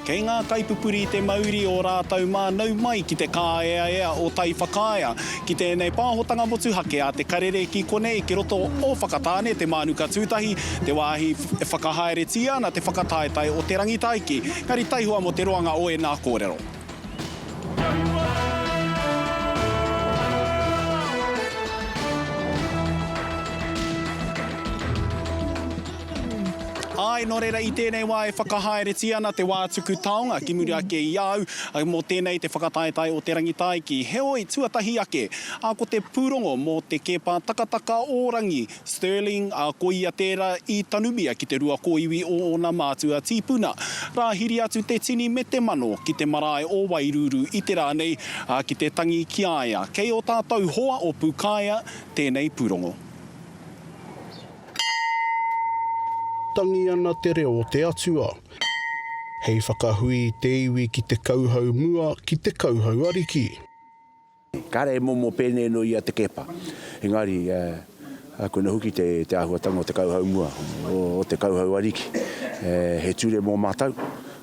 Kei ngā kaipupuri te mauri o rātou mā nau mai ki te kāeaea o Tai Whakaea, ki tēnei pāhotanga motuhake a Te Karere ki konei ki roto o Whakatāne, Te Mānuka Tūtahi, te wāhi e whakahaeretia ana te whakataetae o Te Rangitaiki. Engari taihoa mō te roanga o ēnā kōrero. Āe, nō reira i tēnei wā e whakahaeretia ana te wā tuku taonga ki muri ake i a au, mō tēnei te whakataetae o te rangitaiki. Heoi, tuatahi ake, a ko te pūrongo mō te kēpā takataka o Rangi, Stirling, ā, ko ia tērā i tanumia ki te rua kōiwi o ōna mātua tīpuna. Rāhiri atu te tini me te mano ki te marae o Wairuuru i te rā nei, ā, ki te tangi ki a ia. Kei ō tātou hoa o Pūkāea tēnei pūrongo. Tangi ana te reo o te Atua. Hei whakahui i te iwi ki te kauhau mua, ki te kauhau ariki. Kāre he momo pēnei noa i a Te Keepa, engari koina hoki te āhuatanga o te kauhau mua, o te kauhau ariki. He ture mō mātou,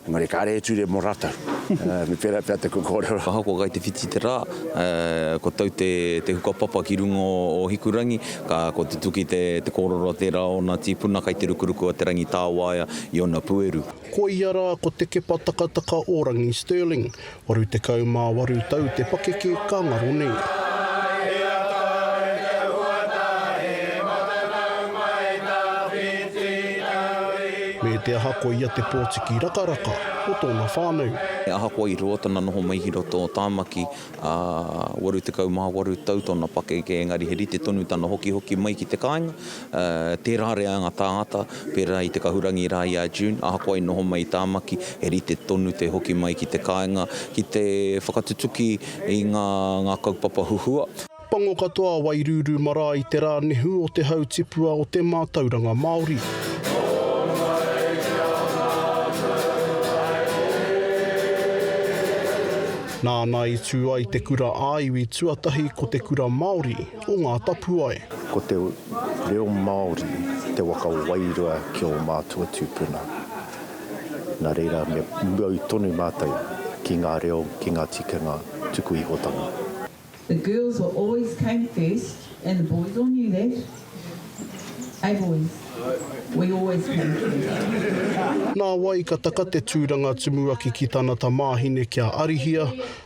engari kāre he ture mō rātou. Me pērā pea te kōrero. Ahakoa kai te whiti te rā, kua tau te huka papa ki runga o Hikurangi, ka kua tutuki te kōrero tērā o ōna tīpuna kai te rukuruku a Te Rangitāwaia i ōna pueru. Koia rā ko Te Kepa Takataka-o-rangi Stirling, 48 tau te pakeke ka ngaro nei. Me te aha ko ia te pōtiki rakaraka o tōna whānau. He ahakoa i roa tana noho mai ki roto o Tāmaki, ā, 88 tau tōna pakeke, engari he rite tonu tana hokihoki mai ki te kāinga, Tērā rea ngā tāngata, pērā i te kahurangi rā i a June, ahakoa i noho mai i Tāmaki, he rite tonu te hoki mai ki te kāinga ki te whakatutuki i ngā kaupapa huhua. Pango katoa a Wairūrū Marae i te rā nehu o te hau tipua o te mātauranga Māori. Nāna i tū ai te kura ā-iwi tuatahi ko Te Kura Māori. o ngā tapuae. Ko te reo Māori te waka wairua ki ō mātua tūpuna. Nā reira me muau tonu mātou ki ngā reo, ki ngā tikanga tuku ihotanga. The girls were always came first and the boys all knew that, eh boys? We always came first. Nā wai ka taka te tūranga tumuaki ki tana tamāhine kia arihia,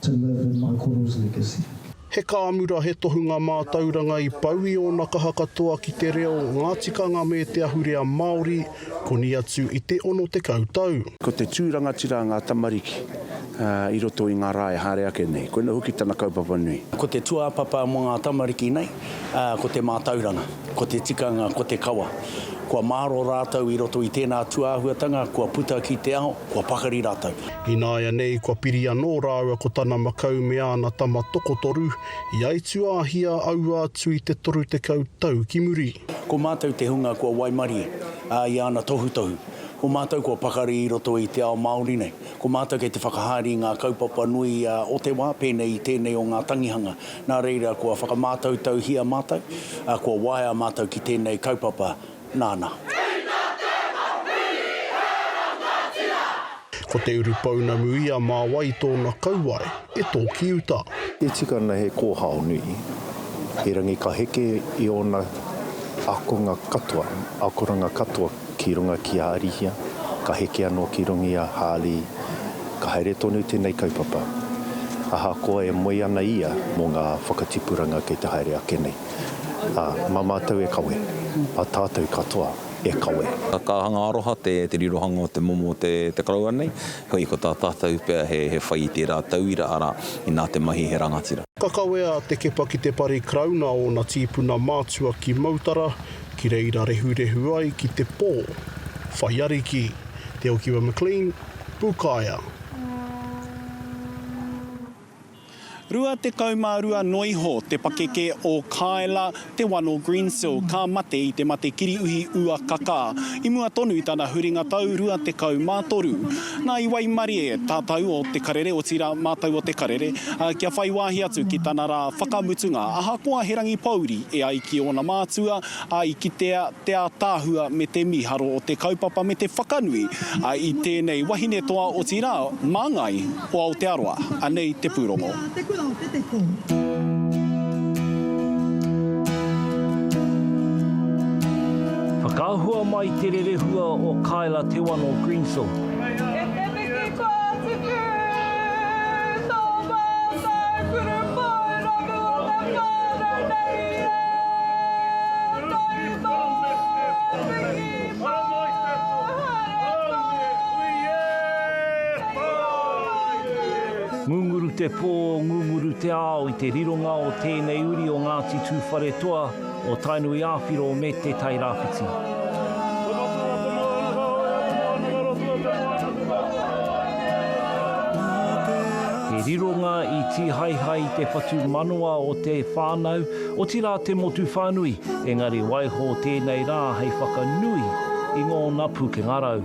To live in my koro's legacy. He kāmura, he tohunga mātauranga i pau i ōna kaha katoa ki te reo, ngā tikanga me te ahurea Māori, koni atu i te 60 tau. Ko te tū rangatira ngā tamariki i roto i ngā rā e haere ake nei. Koinā hoki tana kaupapa nui. Ko te tūāpapa mō ngā tamariki nei, ko te mātauranga, ko te tikanga, ko te kawa. Kua māro rātou i roto i tēnā tūāhuatanga, kua puta ki te ao, kua pakari rātou. Ināianei kua piri anō rāua ko tana makau me āna tama tokotoru, i aituāhia aua atu i te 30 tau ki muri. Ko mātou te hunga kua waimarie, ā, i āna tohutohu. Ko mātou kua pakari i roto i te ao Māori nei. Ko mātou kei te whakahaere i ngā kaupapa nui o te wā, pēnei i tēnei o ngā tangihanga. Nā reira, kua whakamātautauhia mātou, ā, kua waea mātou ki tēnei kaupapa nāna. Ko te urupounamu ia mā wai tōna kauae e tōki uta. E tika ana he kōhao nui Hīrangi ka heke i ōna akonga katoa, akoranga katoa. ki runga ki a Arihia, ka heke anō ki runga i a Hālī, ka haere tonu tēnei kaupapa. Ahakoa e moe ana ia mō ngā whakatipuranga kei te haere ake nei, ā, mā mātou e kawe, mā tātou katoa e kawe. Ka kāhanga aroha te rirohanga o te momo o te Karauna nei, heoi, ko tā tātou pea he whai i tērā tauira, arā, inā te mahi he rangatira. Ka kawea a Te Kepa ki te pari Karauna a ōna tīpuna mātua ki Mautara, Ki reira rehurehu ai ki te pō. Whai ariki, Te Okiwa McLean, Pūkaea. 22 noa iho te pakeke o Kaela Te Wano Greensill ka mate i te mate kiriuhi uakakā. I mua tonu i tana huringa tau 23. Nā, i waimarie tātou o Te Karere, otirā, mātou o Te Karere, kia whai wāhi atu ki tana rā whakamutunga, ahakoa he rangi pōuri e ai ki ōna mātua, ā, i kitea te ātaahua me te mīharo o te kaupapa me te whakanui i tēnei wahine toa, otirā, māngai o Aotearoa. Anei te pūrongo. Te Whakaahua mai te rerehua o Kaela Te Wano Greensill. Ngunguru te pō, ngunguru te ao i te rironga o tēnei uri o Ngāti Tūwharetoa, o Tainui Āwhiro me Te Tai Rāwhiti. He rironga i tīhaehae i te whatumanawa o te whānau, otirā te motu whānui, engari waiho tēnei rā hei whakanui i ngōna pūkenga rau.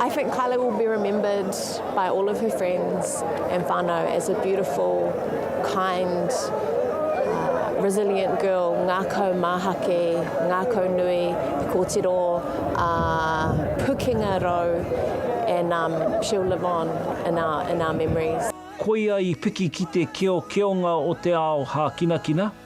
I think Kylie will be remembered by all of her friends and whānau as a beautiful, kind, uh, resilient girl, ngākau māhake, ngākau nui, kōtiro, uh, pukenga rau, and um, she'll live on in our, in our memories. Koia i piki ki te keokeonga o te ao hākinakina.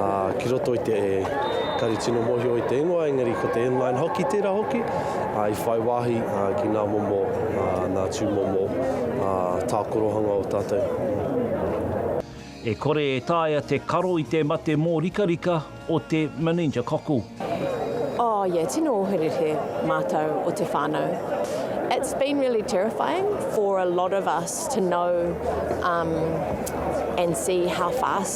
ā, ki roto i te kari tino mōhio i te ingoa, engari ko te inline hoki tērā hoki, ā, i whai wāhi ki ngā momo, ā, ngā tūmomo, ā, tākorohanga o tātou. E kore e taea te karo i te mate mōrikarika o te meningococcal. Oh yeah, tino oherere mātou o te whānau. It's been really terrifying for a lot of us to know and see how fast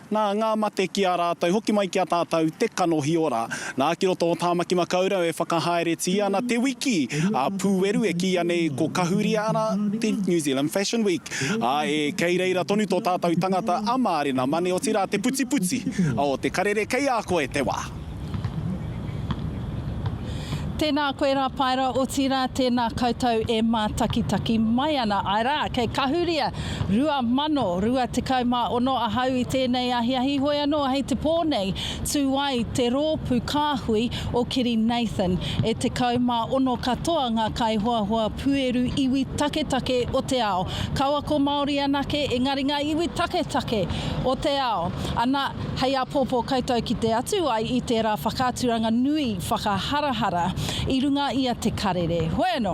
Nā, ngā mate ki a rātou, hoki mai ki a tātou te kanohi ora. Nā, ki roto o Tāmaki Makaurau e whakahaeretia ana te wiki a Pūweru e kīia nei ko Kahuria ana te New Zealand Fashion Week. Ā, e kei reira tonu tō tātou tangata a Mārena Mane, otirā te putiputi o te karere kei a koe te wā. Tēnā koe rā Paera, otirā tēnā koutou e mātakitaki mai ana. Āe rā, kei Kahuria 2026 ahau i tēnei ahiahi, hoi anō hei te pō nei tū ai te rōpū kāhui o Kiri Nathan. E 16 katoa ngā kaihoahoa pueru iwi taketake o te ao. Kaua ko Māori anake, engari ngā iwi taketake o te ao. Ana. Hei āpōpō koutou ki te atu ai i tērā whakaaturanga nui whakaharahara i runga i a Te Karere. Hoi anō,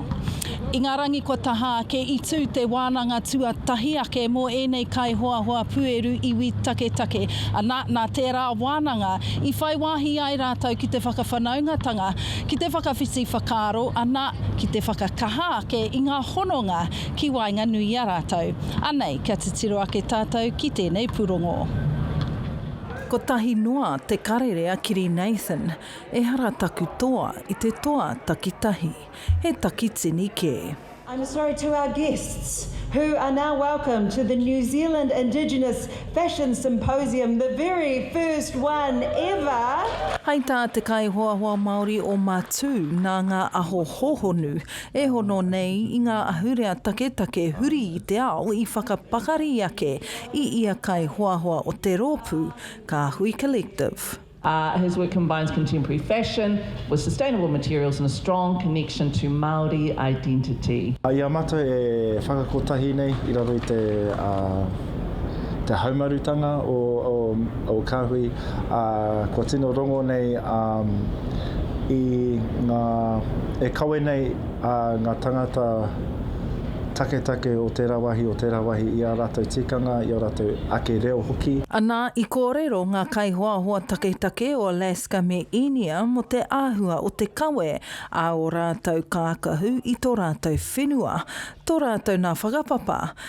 i ngā rangi kua taha ake i tū te wānanga tuatahi ake mō ēnei kaihoahoa pūeru iwi taketake, ana, nā tērā wānanga i whai wāhi ai rātou ki te whakawhanaungatanga, ki te whakawhiti whakaaro, ana, ki te whakakaha ake i ngā hononga ki waenganui i a rātou. Anei, kia titiro ake tātou ki tēnei pūrongo. Kotahi noa te karere a Kiri Nathan, ehara taku toa i te toa takitahi, he takitini kē. I'm sorry to our guests who are now welcome to the New Zealand Indigenous Fashion Symposium, the very first one ever. Hai tā te kaihoahoa Māori o Matū nā ngā aho hōhonu e hono nei i ngā ahurea taketake huri i te ao i whakapakari ake i ia kaihoahoa o te rōpū, Kāhui Collective. His work combines contemporary fashion with sustainable materials and a strong connection to Māori identity. Ia mata e whakakotahi nei i raro i te. te haumarutanga o, o, o Kāhui, ā, kua tino rongo nei ā, i ngā, e kawe nei ā, ngā tāngata taketake o tērā wāhi, o tērā wāhi i ā rātou tikanga, i ō rātou ake reo hoki. Anā, i kōrero ngā kaihoahoa taketake o Alaska me Īnia mō te āhua o te kawe a ō rātou kākahu i tō rātou whenua, tō rātou nā whakapapa,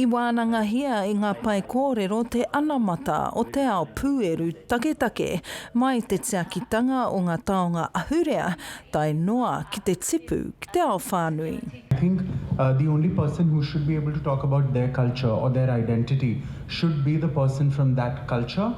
I wānangahia e ngā pae kōrero te anamata o te ao pūeru taketake mai i te tiakitanga o ngā taonga ahurea tae noa ki te tipu ki te ao whānui. I think the only person who should be able to talk about their culture or their identity should be the person from that culture.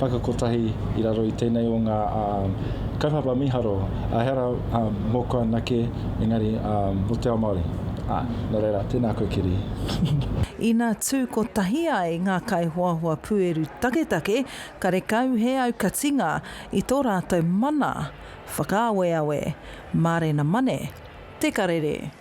whakakotahi i raro i tēnei o ngā kaupapa miharo, ehara mōku anake, engari mō te ao Māori. Nō reira, tēnā koe Kiri. Ina tū kotahi ai ngā kaihoahoa pūeru taketake, karekau he aukatinga i tō rātou mana whakaaweawe. Mārena Mane, Te Karere.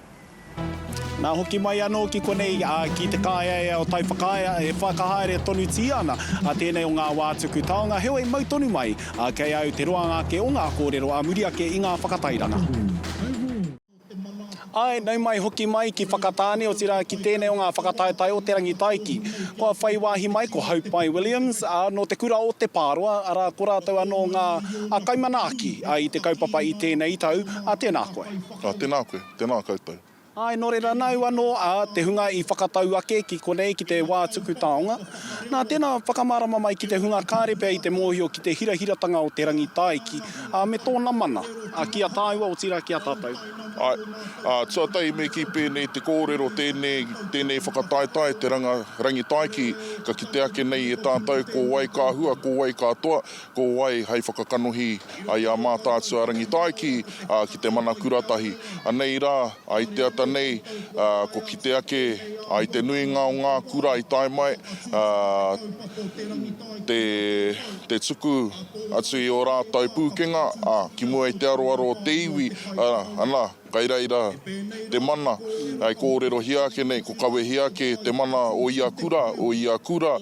Nā, hoki mai anō ki konei, ki te kāeaea o Taiwhakaea, e whakahaere tonutia ana tēnei o ngā wā tuku taonga, heoi mau tonu mai kei a au te roanga ake o ngā kōrero ā muri ake i ngā whakatairanga. Āe, nau mai, hoki mai ki Whakatāne, otirā ki tēnei o ngā whakataetae o Te Rangitaiki. Kua whai wāhi mai ko Haupai Williams, ā, nō te kura o Te Pāroa, arā, ko rātou anō ngā kaimanaaki i te kaupapa i tēnei tau, tēnā koe. Ā, tēnā koe, tēnā koutou. Āe, nō reira nāu anō, ā, te hunga i whakatau ake ki konei, ki te wā tuku taonga. Nā, tēnā, whakamārama mai ki te hunga kāre pea i te mōhio ki te hirahiratanga o te rangi tāiki, ā, me tōna mana, ā, ki a tāua, otirā ki a tātou. Āe, ā, tuatahi me kī pēnei te kōrero, tēnei, tēnei whakataetae te ranga, rangi tāiki, ka kite ake nei e tātou ko wai ka hua, ko wai ka toa, ko wai hai whakakanohi ai a Mātaatua Rangitaiki ki te mana kuratahi. Anei rā, i te ata nei, ko kite ake, i te nuinga o ngā kura i tae mai, te tuku atu i o rātau pūkenga ki mua i te aroaro o te iwi, ana, kai reira te mana e kōrerohia ake nei, ko kawehia ake te mana o ia kura, o ia kura.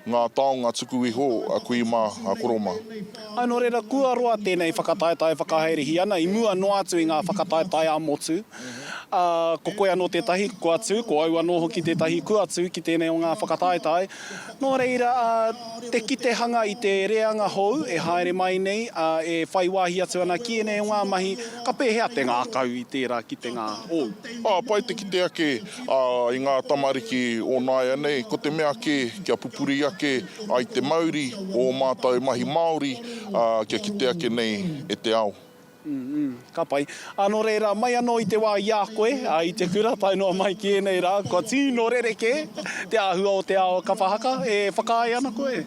Ngā taonga tuku iho a kui mā, a koro mā. Ā, nō reira, kua roa tēnei whakataetae whakahaerehī ana i mua noa atu i ngā whakataetae ā-motu. Ā, ko koe anō tētahi kua tū, ko au anō hoki tētahi kua tū ki tēnei o ngā whakataetae. Nō reira, ā, te kite hanga i te reanga hou e haere mai nei, ā, e whai wāhi atu ana ki ēnei o ngā mahi, ka pēhea te ngākau i tērā kitenga hou? Ā, pai te kite ake i ngā tamariki o nāianei, ko te mea kē, kia pupuri ake ai te mauri o ō mātou mahi māori, ā, kia kite ake nei e te ao. Umm, ka pai. Ā, nō reira, mai anō i te wā i a koe, ā, i te kura tae noa mai ki ēnei rā, kua tīno rerekē te āhua o te ao kapa haka, e whakaae ana koe?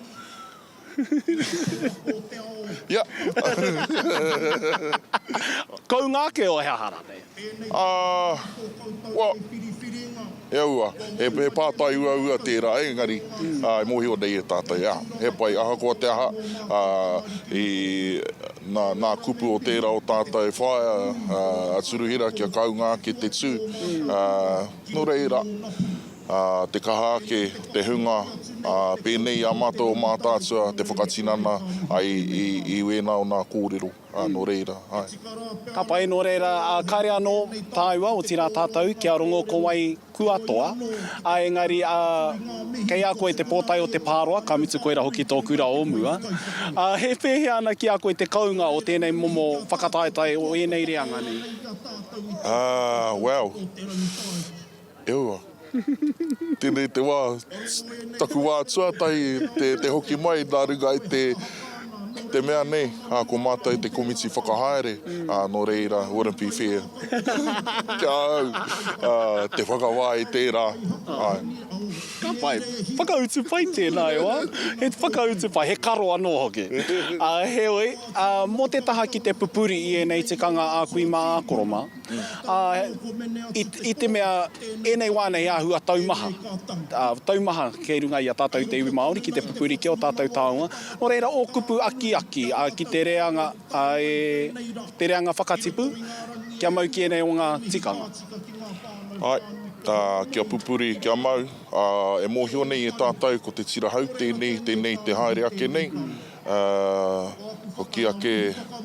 Kounga ake o he aha ranei? Well, e aua, he pātai uaua tērā engari e mōhio nei e tātou, ā, he pai ahakoa te aha, ā, i, nā, nā kupu o tērā o tātou whaea, a Turuhira kia kaunga ake te tū, ā, nō reira. te kaha ake, te hunga, ā, pēnei i a mātou o Mātaatua te whakatinana ai i wēnā o nā kōrero, ā, nō reira, āe. Ka pai, nō reira, ā, kāre anō tāua, otirā tātou, kia rongo ko wai kua toa, ā, engari, ā, kei a koe te pōtae o te pāroa, ka mutu koirā hoki tō kura o mua, ā, he pēhea ana ki a koe te kounga o tēnei momo whakataetae o ēnei reanga nei? Ā, well. Eua. Tenei te wa, taku wa tuatahi te hoki mai na runga i te mea nei, a ko matou te komiti whakahaere, a no reira wouldn't be fair ki a au te whakawa i tera, ae. Ka pai. Whakautu pai tēnā e wā. He whakautu pai, he karo anō hoki. Heoi, mō te taha ki te pupuri i ēnei tikanga a kui mā a koro mā. Ā, i, i te mea ēnei wā nei āhua taumaha, ā, taumaha kei runga i a tātou te iwi Māori ki te pupuri ki ō tātou taonga, nō reira ō kupu akiaki, ā, ki te reanga, ā, e, te reanga whakatipu, kia mau ki ēnei o ngā tikanga. Āe, ā, kia pupuri, kia mau, ā, e mōhio nei e tātou ko te tira hau tēnei, tēnei te haere ake nei, Ā, hoki ake,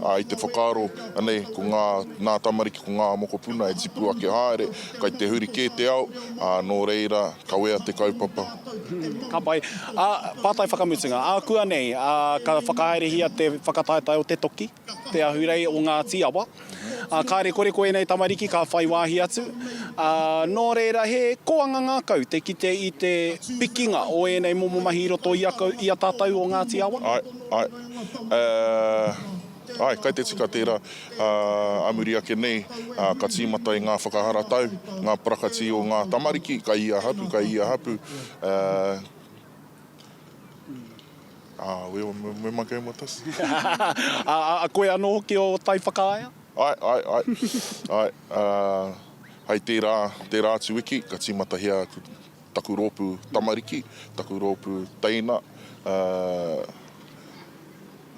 ā, i te whakaaro, anei, ko ngā, nā tamariki ko ngā mokopuna e tipu ake haere, kai te huri kē te ao, ā, nō reira, kawea te kaupapa. Ka pai. Ā, pātai whakamutunga. Ākuanei, ā, ka whakahaerehia te whakataetae o te toki, Te Ahurei o Ngāti Awa. Kāre koreko ēnei tamariki ka whai wāhi atu. Nō reira, he koanga ngākau te kite i te pikinga o ēnei momo mahi i roto i a tātou o Ngāti Awa. Āe, āe. Āe, kai te tika tērā. Ā muri ake nei, ka tīmata i ngā whakaharatau, ngā parakati o ngā tamariki, kai ia hapu, kai ia hapu. Ā, we o, we ma game with us? Ā, a koe anō hoki o taiwhakaea? Āe, āe, āe. Āe, ā, hei tērā, tērā atu wiki ka tīmatahia aku, taku rōpū tamariki, taku rōpū teina, ā,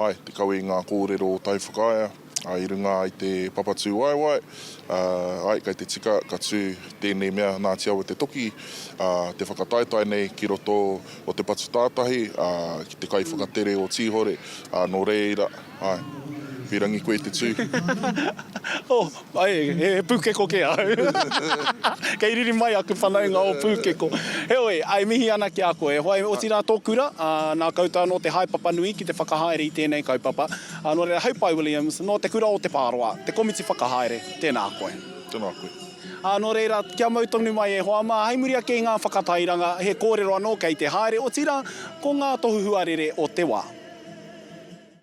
Ae, te kawe i ngā kōrero o Tai Whakaea, ae, i runga i te papatūwaewae, ae, kei te tika ka tū tēnei mea Ngāti Awa Te Toki, te whakataetae nei ki roto o te patu tātahi, ki te kaiwhakatere o Tīhore, nō reira, ae, whirangi koe te tū. Ae, he pūkeko kē ahau. Kei riri mai aku whanaunga o pūkeko. Heoi, e mihi ana ki a koe. Whai, otirā tō kura, ā, nā koutou anō te haepapa nui ki te whakahaere i tēnei kaupapa. Ā, nō reira, hei pae Williams, nō te kura o Te Pāroa, te komiti whakahaere, tēnā koe. Tēnā koe. Ā, nō reira, kia mau tonu mai e hoa mā, hei muri ake i ngā whakatairanga, he kōrero anō kei te haere, otirā, ko ngā tohu huarere o te wā.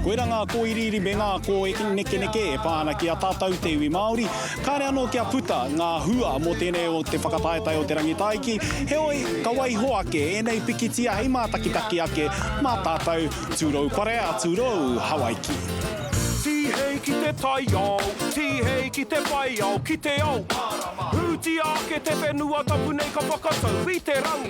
Koirā ngā kōiriiri me ngā kōnekeneke e pā ana ki a tātou te iwi Māori. Kāre anō kia puta ngā hua mō tēnei o te whakataetae o te rangitaiki, heoi, ka waiho ake ēnei pikitia hei mātakitaki ake mā tātou tūrou parea, tūrou Hawaiki. Tihei ki te taiao, tihei ki te whaiao, ki te ao mārama. Hūtia ake te whenua tapu nei ka whakatau i te rangi.